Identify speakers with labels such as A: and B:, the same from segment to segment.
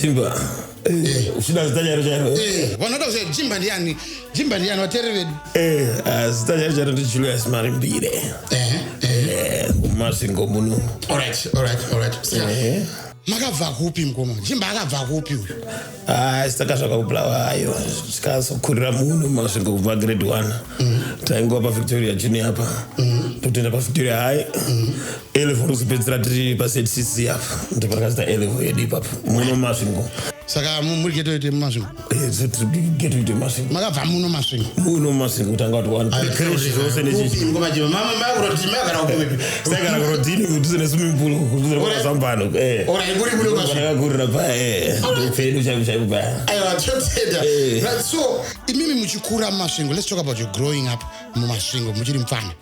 A: jimba
B: eh, uchida zita chairo chairo eh, vanoda kuziva jimba
A: ndiani jimba ndiani vateereri vedu eh, ah, zita
B: chairo chairo ndi julius marimbire mumasvingo muno
A: makabva kupi mukoma jimba akabva kupi uyu ah, saka
B: zvakakubulawa hayo tikazokurira muno masvingo kubva grade one mm. taingova pavictoria junior apa mm. totoenda pavictoria high mm. elevo rikuzopedzisira tiri pazcc apo ndipo rakazita elevo yedu ipapo muno masvingo saka muri
A: geto ite masvingo geto
B: ite masvingo makabva muno masvingo
A: muno masvingo kutanga
B: kuti wanzi zvose
A: nechsagara kurodini
B: kudhuze neswimmingpool kudhuze kwazambano
A: akakurira paya
B: ndopfedu chaivo chaivo paya so
A: imimi muchikura mumasvingo let's talk about your growing up mumasvingo muchiri mupfana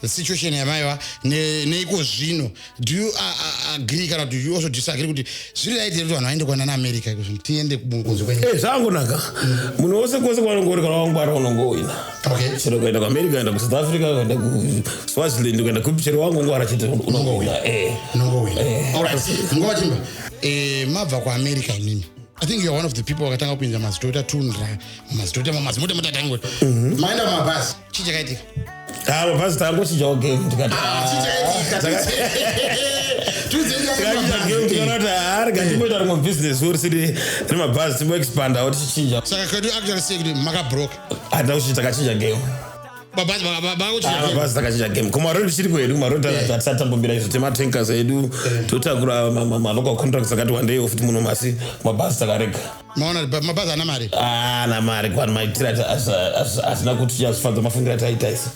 A: the situation yamaiva neiko zvino do you agree kana kuti you also disagree kuti zviri right here kuti vanhu vaende kwana naamerica iko zvino tiende kunze kwenyu eh, zvangonaka
B: munhu wose kwose kwanongori kana wangwara unongoina chero ukaenda
A: kuamerica ukaenda
B: kusouth africa ukaenda kuswaziland ukaenda kupi chero wangongwara chete unongoina nguva
A: chimba mabva kuamerica inini i think youare one of the people vakatanga kupinda mazidota tunra mazidota mamazimota mutatango mhm. maenda mumabhasi chii chakaitika avo ah, pasi
B: tangochinja game tikati ah, ah, rikatiimboita rimwe business uri siri remabhazi timboexpandawo tichichinja saka kwedu actually sei
A: kuti makabroka handina kuchinja takachinja
B: game mabhazi takachinja game kumarodi chiri kwedu kumarodi eh. tatambombira izvo tematankas edu eh. totakura malocal contracts akati wandeiwo futi muno masi mabhazi takarega maona mabazi
A: ana mari ana mari kwani
B: maitira asina kuti chazvifadza mafungiro ataita isu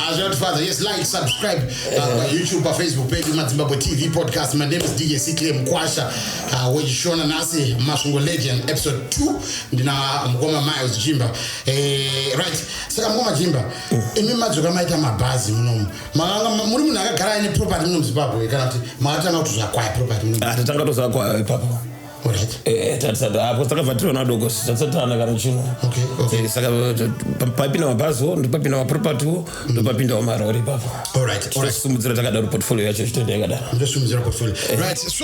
A: azvinotifadza yes like subscribe uh, pa eh. youtube pa facebook page madzimbabwe tv podcast my name is dj ciclay mkwasha uh, wechishona nasi masvingo legend episode 2 ndina mukoma miles jimba eh, right saka mukoma jimba mm. imi madzoka maita mabhazi munomu muri munhu akagara aine property munomu zimbabwe kana
B: kuti
A: makatanga kuti zvakwaya
B: property
A: munomu atatanga ah, tozvakwaya
B: ipapo
A: takavhatirana
B: doko tatsatana kana chino eh, saka
A: eh,
B: papinda mabhaziwo ndopapinda mapropertywo mm. ndopapindawo marori ipapo tosimudzira
A: takadaro
B: portfolio yacho chitenda yakadaroso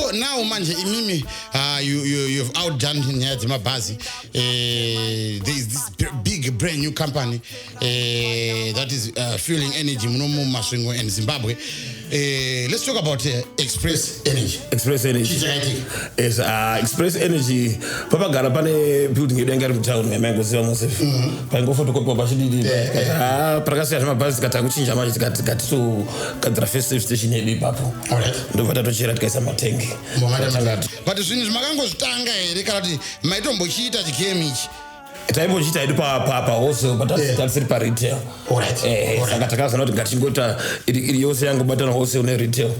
A: eh. now manje imimi ah, you've outdone nyaya dzemabhazi there is this big brand new company uh, that is uh, fueling energy muno mumasvingo and zimbabwe uh, let's talk about uh, express energy express energy
B: yes, uh, express energy papagara pane building yedu yanga iri mutown yamaingoziva mose mhm. paingofotokopiwa pachididi ah, parakasiyana mabhazi tikatanga kuchinja manje tikati togadzira first safe station yedu ipapo ndobva tatochera
A: tikaisa
B: matengi but
A: zvinhu zvimakangozvitanga here kana kuti maitombochiita chigame ichi taimbochita hedu
B: pawholesale but eh. tatisiri paretail eh, eh, saka takazoona kuti ngatingoita iri yose yangobatana wholesale neretail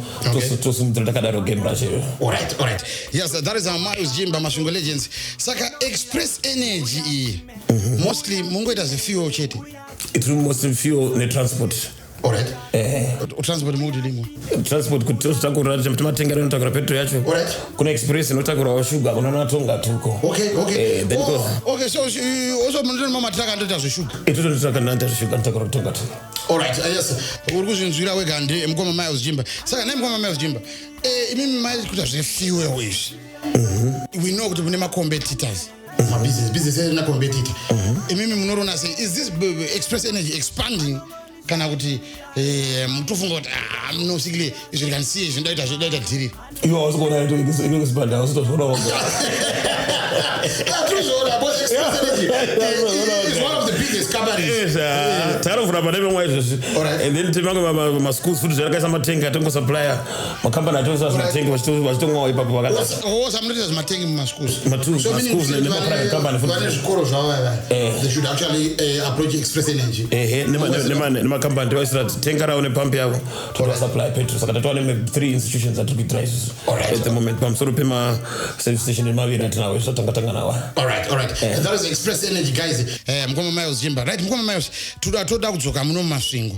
B: tosimudzira takadaro game racho
A: iyoyoyesathatisamausjimba masvingo legends saka express energy iyi mhm. mostly mungoita zvefuel chete it mostly
B: fuel netransport Alright.
A: Eh. Transport mode ndimo. Transport kuti tozotanga
B: kurora kuti timatengera inotakura petrol yacho. Alright. Kuna express
A: inotakura
B: wa sugar kuna na tonga tuko. Okay,
A: okay. Eh,
B: then go. Oh,
A: okay, so uh, also manje mama traka ndoita zve sugar. Ito ndo traka ndoita zve
B: sugar ndotakura tonga tuko. Alright, uh, yes.
A: Uri kuzvinzwira wega ndi mkoma Miles Jimba. Saka naye mkoma Miles Jimba. Eh, imimi mai kuita zve fuel izvi. Mhm. We know kuti mune ma competitors. mabusiness business rina competitor mhm. imimi munorona sei is this express energy expanding kana kuti eh, mutofunga kuti ah, munosikile izvi rikanisiye izvi ndaita zvedaita dhiri ivo hausi kuona
B: inokuspanda hausi tozviona woga
A: tarovhura
B: pane vemwa izvezvi and then timange maschool food zvakaisa matenga atongosuplya makambani atongesa zvimatengi vachitongoa ipapo vakaosamunoita
A: zvimatengi
B: mumaschoolsvane
A: zvikoro zvavavanemakambani
B: tivaisira tenga ravo nepampi yavo toasupply petrol saka tatova neme three institutions atiri kuitira isusu at the moment pamusoro pemaservice station emaviri atinawo isu tatanga tanga nawo
A: mukoma miles chimba right mukoma miles toda kudzoka muno mumasvingo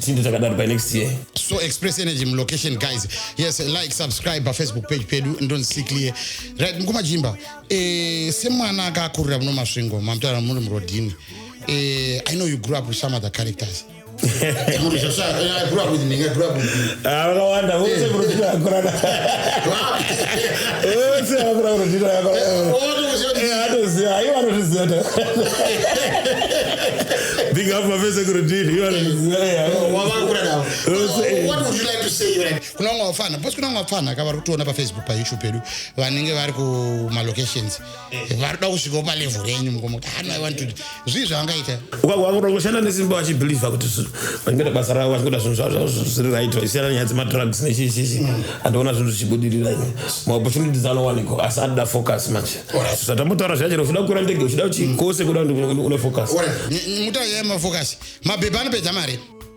A: tichinde takadaro
B: by next year so express energy
A: mulocation guys yes like subscribe pafacebook page pedu ndonzi clear right mkumajimba eh, semwana akakurira muno masvingo mamutaura muri murodhini eh, i know you grew up with some other characters vakawanda vose
B: kurotira yakurana vose vakura kurotira yakuranaatoziva eh, ivo anozviziva ta big up mafese kurotiri ivo anozvizivakunamwe
A: wapfana bcause kunamwe wapfana ka vari kutoona pafacebook payoutube pedu vanenge vari kumalocations varikuda kusvikawo palevhel renyu mukomuti hana iwantudi zvii zvavangaita ukakuda kushanda
B: nesimba vachibhilivha kuti vachikuita basa ravo vachikuita zvinhu zvavo zvavo zviri right vachisiyana nyaya dzemadrugs nechichichi mm. andiona zvinhu zvichibudirira ine maopportunities anowanikwa asi anoda focus manje zvatambotaura zvachero uchida kukura ndege uchida uchikose kuda une focus mutai
A: yemafocus mabhebha anopedza mari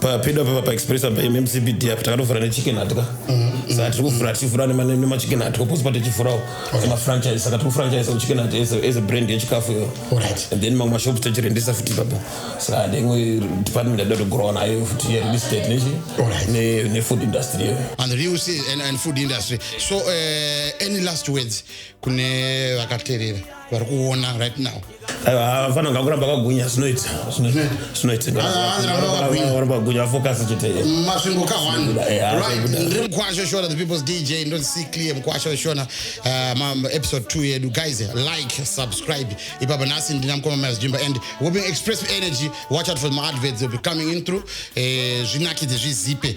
B: papedo apa paexpress apa mmcbd apa takatovhura nechicken hatwa mm-hmm. saka tiri kuvhura tichivhura nemachicken hatwa posi pa tichivhurawo emafranchise saka tiri kufranchise chicken hat as a brand yechikafu iyo and then mamwe mashops tachirendesa futi ipapo saka ndenge department adoda kugrowa nayo futi yereal estate nechi nefood industry iyo and real estate
A: and food industry so uh, any last words kune vakaterera vari kuona right now vafana nga
B: kuramba kagwinya zvinoita zvinoitaoramba kagwinya vafokasi chete masvingo
A: kahwanindiri mukwasha oshona the people's dj ndoti see clear mukwasha oshona um, episode 2 yedu guys like subscribe ipapa nhasi ndina mukoma mazvimba and we'll be expressive energy watch out for my adverts will be coming in through eh, zvinakidze zvizipe